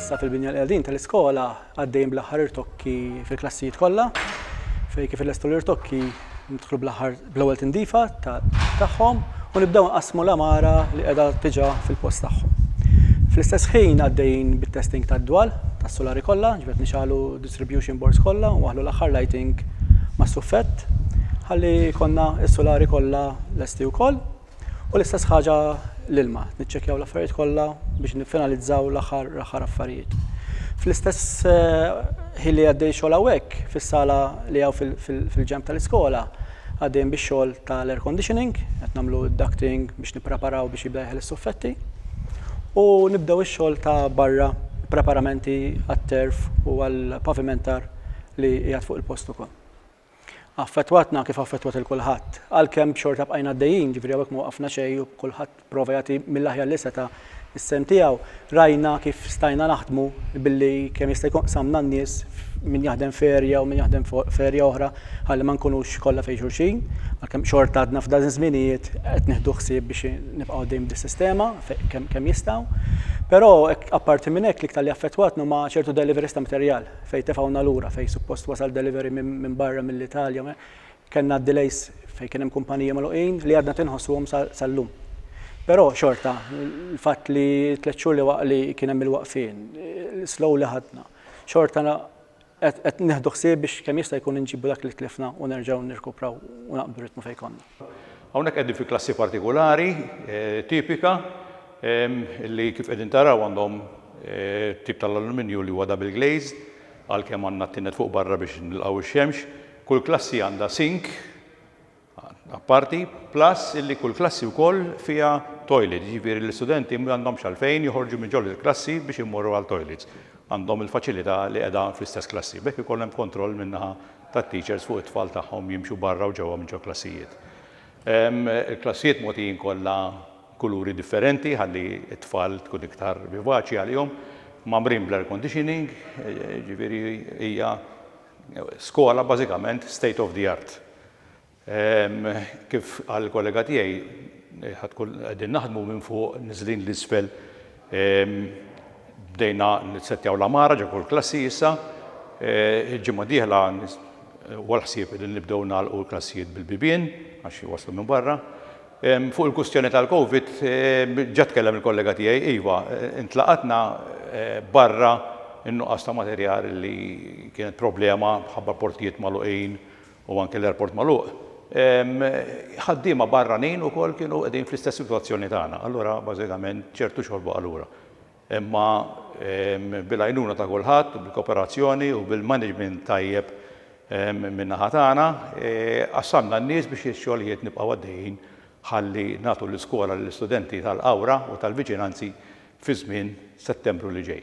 Bħalissa fil-Binja l-Qedin tal-iskola għaddejjin bl-aħħar irtokki fil-klassijiet kollha fejn kif illestu l-irtokki nidħlu bl-aħħar bl-ewwel tindifa tagħhom u nibdew nqassmu l-għamara li qiegħda diġà fil-post tagħhom. Fl-istess ħin għaddejjin bit-testing tad-dwal tas-sulari kollha, ġifieri qed nixgħalu d-distribution boards kollha u nwaħħlu l-aħħar lighting mas-suffett ħalli jkollna s-sulari kollha lesti wkoll. U l-istess ħaġa l-ilma, niċċekkjaw l-affarijiet kollha biex niffinalizzaw l-aħħar l-aħħar affarijiet. Fl-istess eh, ħin li għaddej xogħol hawnhekk fis-sala li hawn fil-ġemp tal-iskola għaddejn bix-xogħol tal-air conditioning, qed nagħmlu ducting biex nippreparaw biex jibda jeħel is-suffetti. U nibdew ix-xogħol ta' barra preparamenti għat-terf u għall-pavimentar li qiegħed fuq il-post ukoll. Affettwatna kif affettwat 'il kulħadd. Għalkemm xorta bqajna għaddejjin, ġifieri hawnhekk ma waqafna xejn u kulħadd pprova jagħti mill-aħjar li seta' s-sehem tiegħu. Rajna kif stajna naħdmu billi kemm jista' jkun qsamna n-nies f'min jaħdem f'area u min jaħdem f'area oħra ħalli ma nkunux kollha fejn xulxin. Għalkemm xorta għadna f'dawn iż-żminijiet qed nieħdu ħsieb biex nibqgħu għaddejjin b'dis-sistema kemm jistgħu. Però apparti minn hekk l-iktar li affettwatna huma ċertu deliveries ta' materjal. fejn tefgħuna lura, fejn suppost wasal delivery minn barra mill-Italja, kellna delays fejn kien hemm kumpaniji magħluqin li għadna tinħossuhom sal-lum. Però xorta, il-fatt li tliet xhur li waqt li kien hemm il-waqfien, slow li ħadna, xorta qed nieħdu ħsieb biex kemm jista' jkun inġibu dak li tlifna u nerġgħu nirkupraw u naqbdu ritmu fejn konna. Hawnhekk qegħdin fi klassi partikulari, tipika, li kif qegħdin taraw għandhom tip tal-alluminju li huwa double glazed, għalkemm għandna t-tined fuq barra biex nilqgħu x-xemx. Kull klassi għandha sink apparti, plus illi kull klassi wkoll fiha toilet, jiġifieri l-istudenti m'għandhomx għalfejn joħorġu minn ġol il-klassi biex imorru għal toilets. Għandhom il-faċilità li qiegħda fl-istess klassi. B'hekk ikollhom kontroll min-naħa tat-teachers fuq it-tfal tagħhom jimxu barra u ġewwa mill-ġoklassijiet. Il-klassijiet mogħtijin kollha kuluri differenti ħalli t-tfal tkun iktar vivaċi għalihom, mgħammrin bl-air conditioning, jiġifieri hija skola bażikament state of the art. Kif qal il-kollega tiegħi, ħadd kull qegħdin naħdmu minn fuq niżlin l-isfel. Bdejna nissettjaw l-għamara ġo kull klassi issa. Il-ġimgħa d-dieħla huwa l-ħsieb li nibdew nagħlqu l-klassijiet bil-bibien għax iwasslu minn barra. Fuq il-kwistjoni tal-Covid, ġa tkellem il-kollega tiegħi, iva, intlaqatna barra n-nuqqas ta' materjal li kienet problema mħabba l-portijiet magħluqin u anke l-airport magħluq, ħaddiema barranin ukoll kienu qegħdin fl-istess sitwazzjoni tagħna. Allura bażikament ċertu xogħol baqa' lura. Imma bil-għajnuna ta' kulħadd, bil-kooperazzjoni u bil-management tajjeb min-naħa tagħna, qassamna n-nies biex ix-xogħlijiet nibqgħu għaddejjin ħalli nagħtu l-iskola lill-istudenti tal-Qawra u tal-viċinanzi fi żmien Settembru li ġej.